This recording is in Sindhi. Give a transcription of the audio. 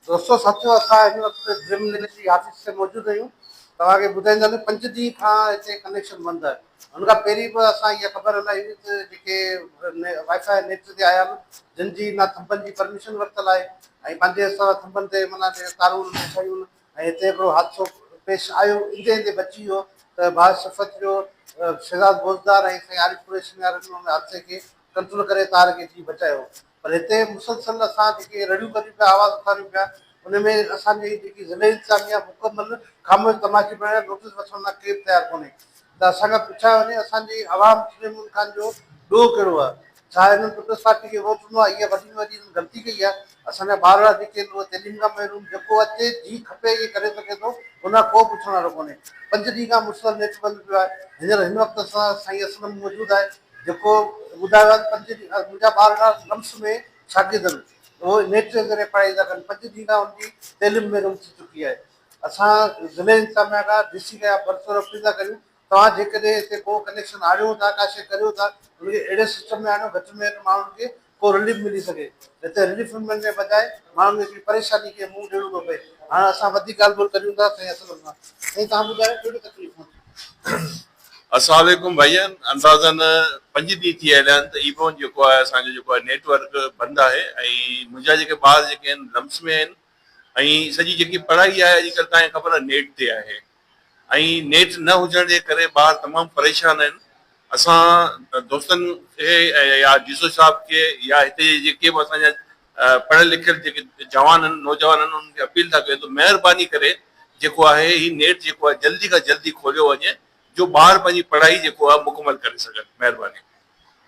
دوستو ساٿيو اسان هن وقت ڊريم ويليج جي آفيس تي موجود آهيون توهان کي ٻڌائيندا ته پنج ڏينهن کان هتي ڪنيڪشن بند آهي هن کان پهرين به اسان اها خبر هلائي هئي ته جيڪي وائي فائي نيٽ تي آيا آهن جن جي نه ٿنڀن جي پرميشن ورتل آهي ۽ پنهنجي حساب سان ٿنڀن تي معنيٰ جيڪي تارون انهن کي ٺاهيون ۽ هتي هڪڙو حادثو پيش آيو ايندي ايندي بچي ويو ته باعث شفت جو شهزاد بوزدار ۽ سائين عارف قريشي نيارن ان حادثي کي ڪنٽرول ڪري تار کي جي بچايو پر هتي مسلسل اسان جيڪي رڙيون ڪريون پيا آواز اٿاريون پيا ان ۾ اسان جي جيڪي ضلعي انتظاميه مڪمل خاموش تماشي بڻي ويا نوٽيس وٺڻ لاء ڪير تيار ڪونهي ته اسان کان پڇايو وڃي اسان جي عوام سليم مون خان جو ڏوهه ڪهڙو آهي ڇا هنن پيپلز پارٽي کي ووٽ ڏنو آهي اها وڏي ۾ وڏي هنن غلطي ڪئي آهي اسان جا ٻار اهڙا جيڪي آهن اهي تعليم کان محروم جيڪو اچي جي کپي اهي ڪري سگهي ٿو ان کان ڪو پڇڻ وارو ڪونهي پنج ڏينهن کان مسلسل نيٽ بند پيو آهي هينئر هن وقت اسان سان سائين اسلم موجود آهي جيڪو ٻڌايو آهي ته پنج ڏينهن کان منهنجا ٻار اهڙا لمس ۾ شاگرد آهن اهو نيٽ جي ذريعي پڙهائي ٿا ڪن پنج ڏينهن کان ان جي تعليم بي رغم ٿي چڪي آهي اسان ضلعي انتظاميا کان ڊي سي کان اها برسر اپيل ٿا ڪريون توهان جيڪڏهن هتي ڪو ڪنيڪشن آڻيو ٿا ڪا شيء ڪريو ٿا ان کي اهڙي سسٽم ۾ آڻيو گهٽ ۾ گهٽ ماڻهن کي ڪو رليف ملي سگهي، نه ته رليف ملڻ جي بجاء ماڻهن کي هڪڙي پريشاني کي منهن ڏيڻو ٿو پئي. هاڻ اسان وڌيڪ ڳالهه ٻولهه ڪريون ٿا سائين اسلم سان. سائين توهان ٻڌايو ڪهڙيون تڪليفون ٿيون؟ السلام عليڪم ڀائين اندازن پنج ڏينهن ٿي هليا آهن ته اي بون جيڪو آهي اسان جو جيڪو آهي نيٽ ورڪ بند آهي ۽ منهنجا جيڪي ٻار جيڪي آهن لمس ۾ آهن ۽ سڄي جيڪي پڙهائي آهي اڄڪلهه تان کي خبر آهي نيٽ تي آهي ۽ نيٽ نه هجڻ جي ڪري ٻار تمام پريشان آهن اسان دوستن کي يا ڊي سو صاحب کي يا هتي جي جيڪي به اسان جا پڙهيل لکيل جيڪي جوان آهن نوجوان آهن انهن کي اپيل ٿا ڪيون ته مهرباني ڪري جيڪو آهي هي نيٽ جيڪو آهي جلدي کان جلدي کوليو وڃي جو ٻار پنهنجي پڙهائي جيڪو آهي مڪمل ڪري سگهن مهرباني.